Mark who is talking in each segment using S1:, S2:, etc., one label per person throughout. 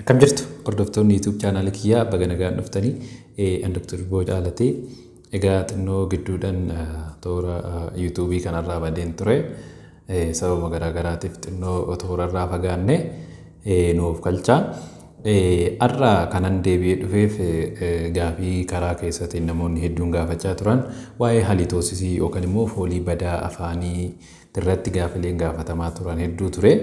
S1: Akkam jirtu hordoftoonni YouTube chaanaala kiyyaa baga nagaan dhuftanii an Dr. Boo Caalatee egaa xinnoo gidduudhaan toora YouTube kanarraa badeen ture sababa garaagaraatiif xinnoo toorarraa fagaanne nuuf galchaa. Har'a kanan deebi'ee dhufeef gaafii karaa keessatti namoonni hedduun gaafachaa turan waa'ee halitoosisii yookaan immoo foolii badaa afaanii irratti gaafileen gaafatamaa turan hedduu ture.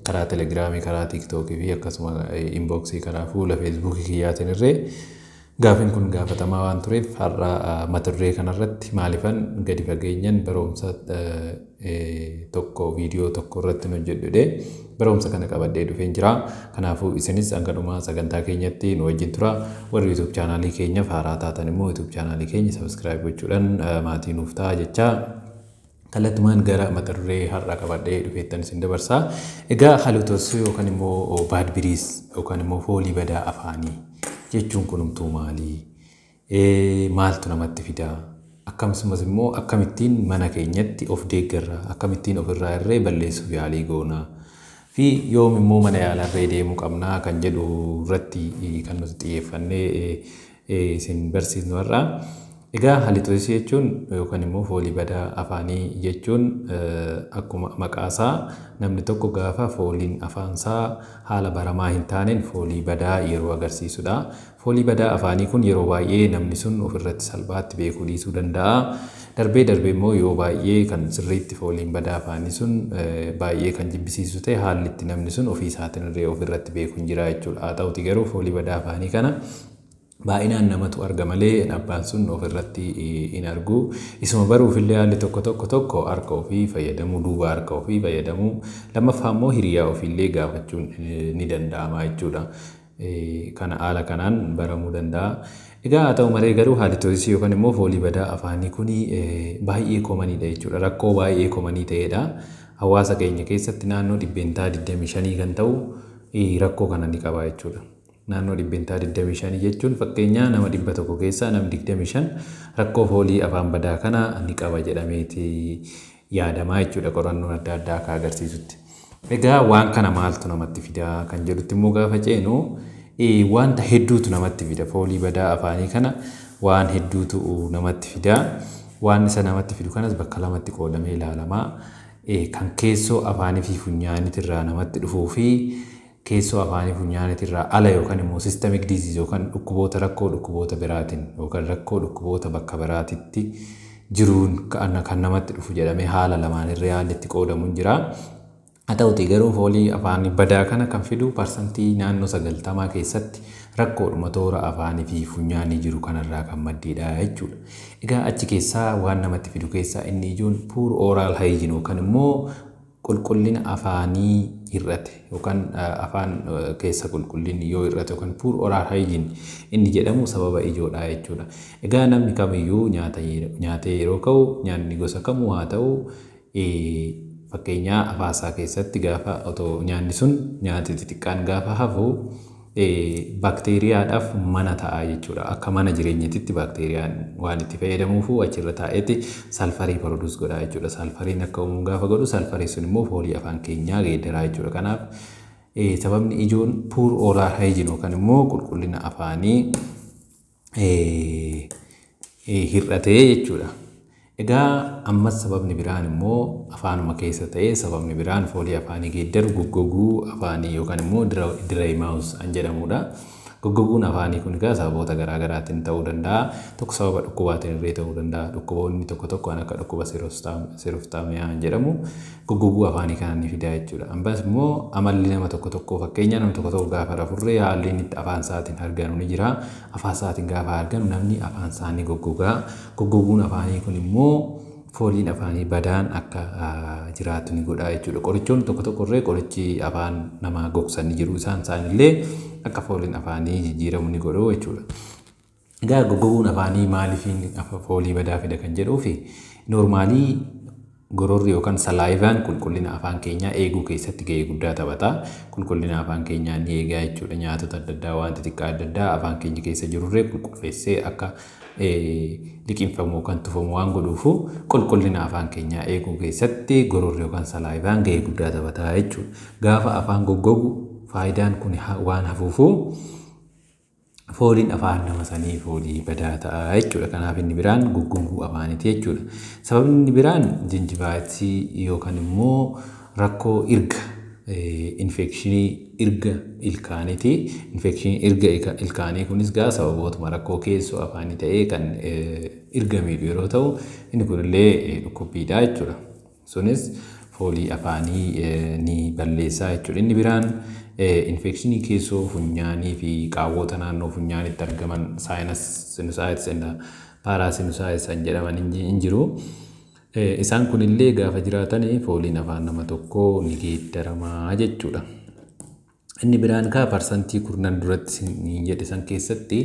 S1: Karaa Telegiraamii, karaa Tiiktookii fi akkasuma inboksii karaa fuula Feesbuukii kiyyaatiin irree gaafiin kun gaafatamaa waan tureef har'a mata duree kanarratti maalifan gadi fageenyan barumsa tokko viidiyoo tokko irratti nu jedhudhe barumsa kana qabadhee dhufeen jira. Kanaafuu isinis hanga dhuma sagantaa keenyatti nu wajjin tura. Warri YouTube chaanaalii keenyaaf haaraa taatan immoo YouTube chaanaalii keenya sabiskiraayib gochuudhaan maatii nuuf ta'a jechaa Kallattumaan gara mata duree har'aa qabadhee dhufeettan isin dabarsa. Egaa haluutossuu yookaan immoo baad biriis yookaan immoo foolii badaa afaanii jechuun kunumtuu maali? Maaltu namatti fida? Akkasumas immoo akkamittiin mana keenyatti of deeggarra? Akkamittiin ofirraa irree balleessuuf yaalii goona? Fi yoom immoo mana yaalaa irree deemuu qabna kan jedhu irratti kan nuti xiyyeeffannee isin barsiifnu har'a. Egaa halitoosisii jechuun yookaan immoo foolii badaa afaanii jechuun akkuma maqaasaa namni tokko gaafa fooliin afaansaa haala baramaa hin taaneen foolii badaa yeroo agarsiisudha. Foolii badaa afaanii kun yeroo baay'ee namni sun ofirratti salphaatti beekuu dhiisuu danda'a. Darbee darbee immoo yoo baay'ee kan sirriitti fooliin badaa afaanii sun baay'ee kan jibbisiisu ta'e haalli itti namni sun ofii isaatiin illee ofirratti beeku hin jira jechuudha. Haa ta'uti garuu foolii badaa afaanii kana baay'inaan namatu arga malee abbaan sun of irratti hin argu. Isuma baruuf illee haalli tokko tokko tokko harka ofii fayyadamuu duuba harka ofii fayyadamuu lammaffaa immoo hiriyaa ofii illee gaafachuun ni danda'ama jechuudha. Kana haala kanaan baramuu danda'a. Egaa haa ta'u malee garuu haalitoosisii yookaan immoo foolii badaa afaanii kun baay'ee komaniidha jechuudha. Rakkoo baay'ee komanii ta'edha. Hawaasa keenya keessatti naannoo dhibbeentaa 25 kan ta'u rakkoo kana ni qaba jechuudha. Naannoo dhibbentaa 25 jechuun fakkeenyaa nama 100 keessaa namni 25 rakkoo foolii afaan badaa kana ni qaba jedhameeti yaadamaa jechuudha qorannoon adda addaa akka agarsiisutti. Egaa waan kana maaltu namatti fida kan jedhutti immoo gaafa ceenu wanta hedduutu namatti fida foolii badaa afaanii kana waan hedduutu namatti fida. Waan isa namatti fidu kanas bakka lamatti qoodamee ilaalama. Kan keessoo afaanii fi funyaaniitirraa namatti dhufuu fi keessoo afaanii funyaanitirraa ala yookan immoo systemic disease yookan dhukkuboota rakkoo dhukkuboota biraatin yookan rakkoo dhukkuboota bakka biraatitti jiruun kan namatti dhufu jedhamee haala lamaan irree haalli itti qoodamu jira. Haa ta'utii garuu foolii afaanii badaa kana kan fidu parsantii naannoo sagaltamaa keessatti rakkoodhuma toora afaanii fi funyaanii jiru kanarraa kan maddeedha jechuudha. Egaa achi keessaa waan namatti fidu keessaa inni ijoon poor oral hygiene yookan immoo qulqullina afaanii hir'ate yookaan afaan keessa qulqullinni yoo hir'ate yookaan poor oral hygiene inni jedhamu sababa ijoodha jechuudha. Egaa namni kamiyyuu nyaata nyaatee yeroo ka'u nyaanni gosa kamuu haa ta'u fakkeenyaa afaan isaa keessatti gaafa otoo nyaanni sun nyaati xixiqqaan gaafa hafu Baakteeriyaadhaaf mana ta'a jechuudha. Akka mana jireenyatitti baakteeriyaan waan itti fayyadamuufu achirra taa'eeti salfarii produce godha jechuudha. Salfariin akka uumu gaafa godhu salfarii sun immoo foolii afaan keenyaa geeddaraa jechuudha. Kanaaf sababni ijoon poor oral hygiene yookaan immoo qulqullina afaanii hir'atee jechuudha. Egaa ammas sababni biraan immoo afaanuma keessa ta'ee sababni biraan foolii afaanii geeddaru goggoguu afaanii yookaan immoo dry mouth an jedhamudha. Goggoguun afaanii kun egaa sababoota garaa garaatiin ta'uu danda'a. Tokko sababa dhukkubaatiin illee ta'uu danda'a. Dhukkuboonni tokko tokko kan akka dhukkuba siroftaamiyaa jedhamu goggoguu afaanii kana ni fida jechuudha. Ammas immoo amalli nama tokko tokkoo fakkeenyaa namni tokko tokko gaafa rafurree haalli inni itti afaan isaatiin harganu ni jira. Afaan isaatiin gaafa harganu namni afaan isaa ni goggogaa. Goggoguun afaanii kun immoo fooliin afaanii badaan akka jiraatu ni godha jechuudha. Qorichoonni tokko tokko irree qorichi afaan namaa gogsan ni jiru. Isaan isaanillee akka fooliin afaanii jijjiiramu ni godhu jechuudha. Egaa goggoguun afaanii maaliif foolii badaa fida kan jedhuufi noormaalii gororri yookaan salaayivaan qulqullina afaan keenyaa eeguu keessatti ga'ee guddaa taphata. Qulqullina afaan keenyaa ni eegaa jechuudha. Nyaatota adda addaa waan xixiqqaa adda addaa afaan keenya keessa jirurree qulqulfeessee akka liqinfamu yookaan tufamu waan godhuufu qulqullina afaan keenyaa eeguu keessatti gororri yookaan salaayivaan ga'ee guddaa taphata jechuudha. Gaafa afaan goggogu faayidaan kun waan hafuufu fooliin afaan nama sanii foolii badaa ta'a jechuudha. Kanaaf inni biraan guggunguu afaaniti jechuudha. Sababni inni biraan jinjibaayitii yookaan immoo rakkoo irga infekshinii irga ilkaaniiti. Infekshinii irga ilkaanii kunis gaa sababootuma rakkoo keessoo afaanii ta'ee kan irga miidhu yeroo ta'u inni kunillee dhukkubbiidha jechuudha. Sunis foolii afaanii ni balleessa jechuudha. Inni biraan infekshinii keessoo funyaanii fi qaawwoota naannoo funyaanitti argaman saayinas sinusaayits inda paaraa sinusaayits kan jedhaman hin jiru. Isaan kunillee gaafa jiraatan fooliin afaan nama tokkoo ni geeddaramaa jechuudha. Inni biraan kaa parsantii kurnan duratti sin jedhe san keessatti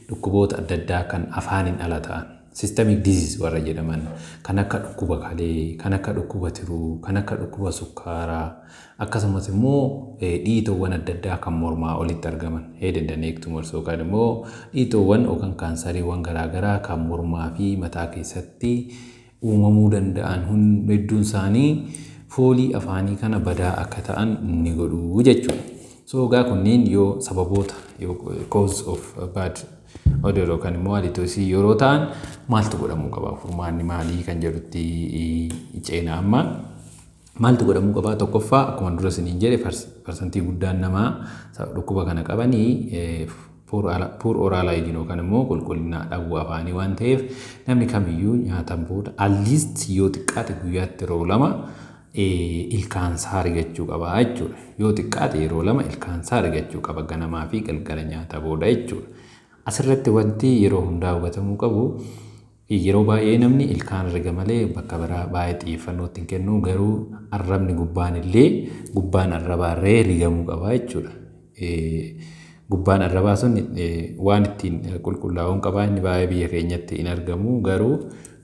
S1: dhukkuboota adda addaa kan afaaniin ala ta'an systemic disease warra jedhaman kan akka dhukkuba kalee, kan akka dhukkuba tiruu, kan akka dhukkuba sukkaaraa akkasumas immoo dhiitoowwan adda addaa kan mormaa olitti argaman head and neck tumors yookaan immoo dhiitoowwan yookaan kaansariiwwan garaagaraa kan mormaa fi mataa keessatti uumamuu danda'an hedduun isaanii foolii afaanii kana badaa akka ta'an ni godhu jechuudha. So egaa kunniin yoo sababoota cause of bad odor yookaan immoo halitoosi yeroo ta'an maaltu godhamuu qaba furmaanni maalii kan jedhutti ceena amma. Maaltu godhamuu qabaa? Tokkoffaa akkuma dura isiniin jedhe parsantii guddaan namaa dhukkuba kana qabanii puur oral hygiene yookaan immoo qulqullina dhabuu afaanii waan ta'eef namni kamiyyuu nyaatan booda alliist yoo xiqqaate guyyaatti yeroo lama ilkaan isaa rigachuu qaba jechuudha. Yoo xiqqaate yeroo lama ilkaan isaa rigachuu qaba ganamaa fi galgala nyaata booda jechuudha. Asirratti wanti yeroo hundaa hubatamuu qabu i. Yeroo baay'ee namni ilkaan herrega malee bakka biraa baay'ee xiyyeeffannoo itti hin kennu, garuu arrabni gubbaan illee gubbaan arrabaa irree rigamuu qaba jechuudha. Gubbaan arrabaa sun waan ittiin qulqullaa'uun qabaa inni baay'ee biyya keenyatti hin argamu garuu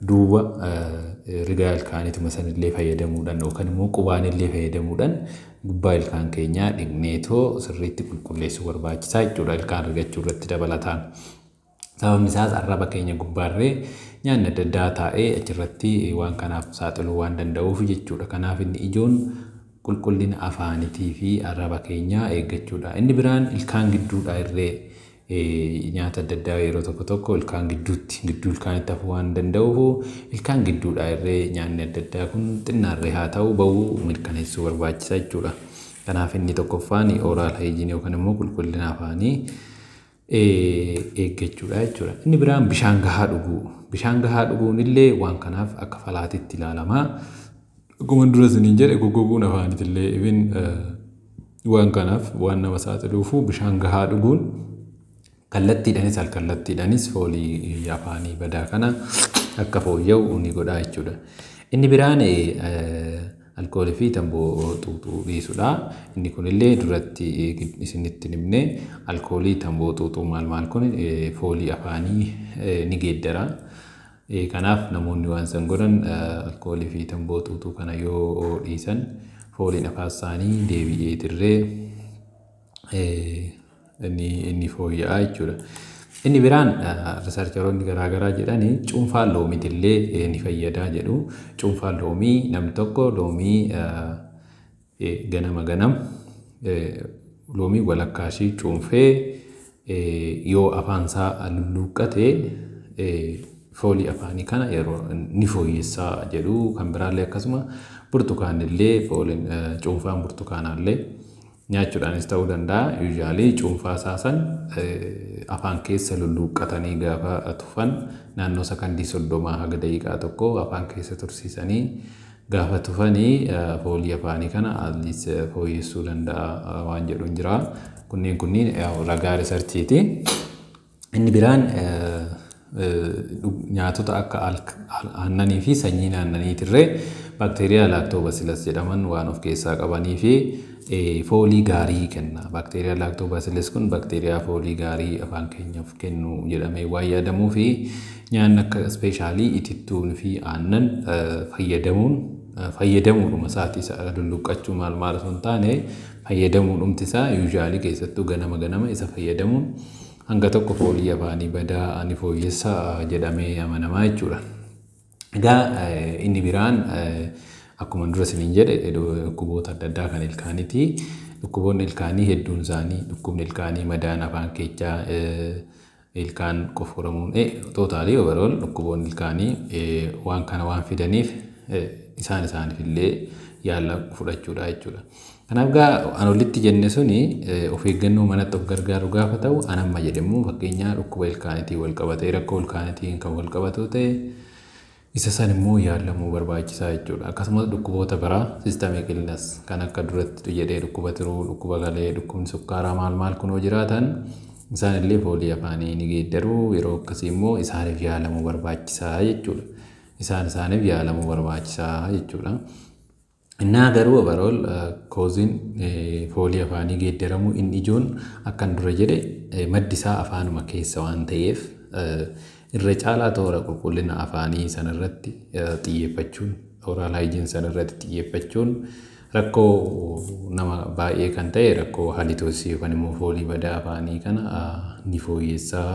S1: duuba rigaa ilkaanituma san illee fayyadamuudhaan yookaan immoo qubaan illee fayyadamuudhaan gubbaa ilkaan keenyaa dhiqneetoo sirriitti qulqulleessuu barbaachisaa jechuudha ilkaan rigachuu irratti dabalataan. Sababni isaas arraba keenya gubbaarree nyaanni adda addaa taa'ee achirratti waan kanaaf saaxiluu waan danda'uuf jechuudha. Kanaaf inni ijoon qulqullina afaanitii fi arraba keenyaa eeggachuudha. Inni biraan ilkaan gidduudha irree nyaata adda addaa yeroo tokko tokko ilkaan gidduutti gidduu ilkaanitti hafuu waan danda'uuf ilkaan gidduudha irree nyaanni adda addaa kun xinnaarree haa ta'u ba'uu mirkaneessuu barbaachisa jechuudha. Kanaaf inni tokkoffaan ooraal hayijiinii yookaan immoo qulqullina afaanii eeggachuudha jechuudha. Inni biraan bishaan gahaa dhuguu. Bishaan gahaa dhuguun illee waan kanaaf akka falaatitti ilaalama. Akkuma dura isiniin jedhe goggoguun afaanitti illee ibin waan kanaaf waan nama saaxiluufu bishaan gahaa dhuguun kallattiidhanis alkallattiidhanis foolii afaanii badaa kana akka fooyya'u ni godha jechuudha. Inni biraan Alkoolii fi tamboo xuuxuu dhiisudha. Inni kunillee duratti isinitti hin himne alkoolii tamboo xuuxuu maal maal kun foolii afaanii ni geeddara. Kanaaf namoonni waan san godhan alkoolii fi tamboo xuuxuu kana yoo dhiisan fooliin afaan isaanii deebi'ee dirree inni fooyya'aa jechuudha. Inni biraan riisarcharoonni garaa garaa jedhan cuunfaan loomiitillee ni fayyadaa jedhu. Cuunfaan loomii namni tokko loomii ganama ganam loomii walakkaa ishee cuunfee yoo afaan isaa lulluuqqate foolii afaanii kana yeroo ni fooyyessa jedhu. Kan biraallee akkasuma burtukaanillee cuunfaan burtukaanaallee Nyaachuudhaanis ta'uu danda'a, usually cuunfaa isaa san afaan keessa lulluuqqatanii gaafa tufan naannoo sakandii soddomaa haga daqiiqaa tokko afaan keessa tursiisanii gaafa tufani foolii afaanii kana atleast fooyyessuu danda'a waan jedhuun jira. Kunneen kunniin ragaa riisarchiiti. Inni biraan nyaatota akka aannanii fi sanyiin aannanii tirree baakteeriyaa laaktoobasilas jedhaman waan of keessaa qabanii fi foolii gaarii kenna. Baakteeriyaa laaktoobasilas kun baakteeriyaa foolii gaarii afaan keenyaaf kennu jedhamee waan yaadamuu fi nyaanni akka ispeeshaalii itittuun fi aannan fayyadamuun fayyadamuudhuma isaati isa lulluqqachuu maal maal osoo hin taane fayyadamuudhumti isaa yuuzhaalii keessattuu ganama ganama isa fayyadamuun Hanga tokko foolii afaanii badaa ani fooyyessa jedhamee amanamaa jechuudha. Egaa inni biraan akkuma dura isiniin jedhe dhukkuboota adda addaa kan ilkaaniiti. Dhukkuboonni ilkaanii hedduun isaanii dhukkubni ilkaanii madaan afaan keechaa ilkaan qoforamuun tootaalii overall dhukkuboonni ilkaanii waan kana waan fidaniif isaan isaaniif illee yaala fudhachuudha jechuudha. Kanaaf gaa an olitti jenne suni of eeggannoo manatti of gargaaru gaafa ta'u an amma jedhe immoo fakkeenyaa dhukkuba ilkaanitiin wal qabatee rakkoo ilkaanitiin kan wal qabatuu ta'e isa san immoo yaalamuu barbaachisaa jechuudha. Akkasumas dhukkuboota biraa systemic illness kan akka duratti jedhee dhukkuba tiruu, dhukkuba galee, dhukkubni sukkaaraa maal maal kunoo jiraatan isaan illee foolii afaanii ni geeddaru yeroo akkasii immoo isaaniif yaalamuu barbaachisaa jechuudha. Isaan isaaniif yaalamuu barbaachisaa jechuudha. Innaa garuu overall koozin foolii afaanii geeddaramuu inni ijoon akkan dura jedhe maddi isaa afaanuma keessa waan ta'eef irra caalaa toora qulqullina afaanii sanarratti xiyyeeffachuun oral hygiene sanarratti xiyyeeffachuun rakkoo nama baay'ee kan ta'e rakkoo halitoossii yookaan immoo foolii badaa afaanii kana ni fooyyessaa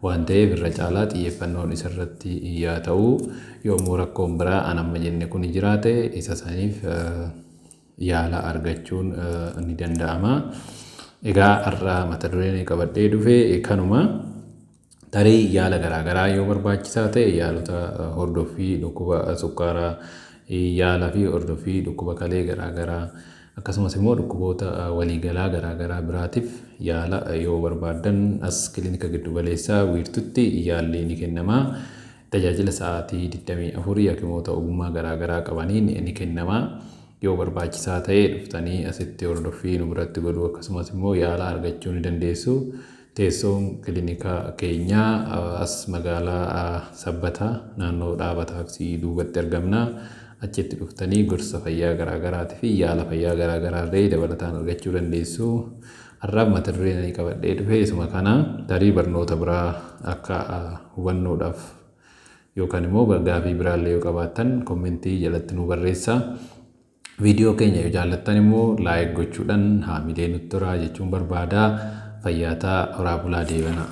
S1: waan ta'eef irra caalaa xiyyeeffannoon isa irratti yaa ta'u, yommuu rakkoon biraa an amma jenne kuni jiraate isa saniif yaala argachuun ni danda'ama. Egaa har'a mata dureen ani qabadhee dhufe kanuma. Tarii yaala garaa garaa yoo barbaachisaa ta'e yaalota hordoffii dhukkuba sukkaaraa yaalaa fi hordoffii dhukkuba kalee garaa garaa Akkasumas immoo dhukkuboota waliigalaa garaagaraa biraatif yaala yoo barbaaddan as kilinika giddu galeessaa wiirtutti yaalli ni kennama. Tajaajila sa'aatii 24 hakimoota ogummaa garaagaraa qabaniin ni kennama. Yoo barbaachisaa ta'e dhuftanii asitti hordoffii nu biratti godhuu akkasumas immoo yaala argachuu ni dandeessu. Teessoon kilinika keenyaa as magaalaa Sabbataa naannoo dhaaba taaksii duubatti argamna. Achitti dhuftanii gorsa fayyaa garaa garaati fi yaala fayyaa garaa garaallee dabalataan argachuu dandeessu. Har'aaf mata dureen ani qabadhee dhufe isuma kana tarii barnoota biraa akka hubannoodhaaf yookaan immoo gaafii biraallee yoo qabaattan kommentii jalatti nu barreessaa. Viidiyoo keenya yoo jaallattan immoo laayik gochuudhaan haamilee nutti turaa jechuun barbaada. Fayyaataa horaa bulaa deebanaa.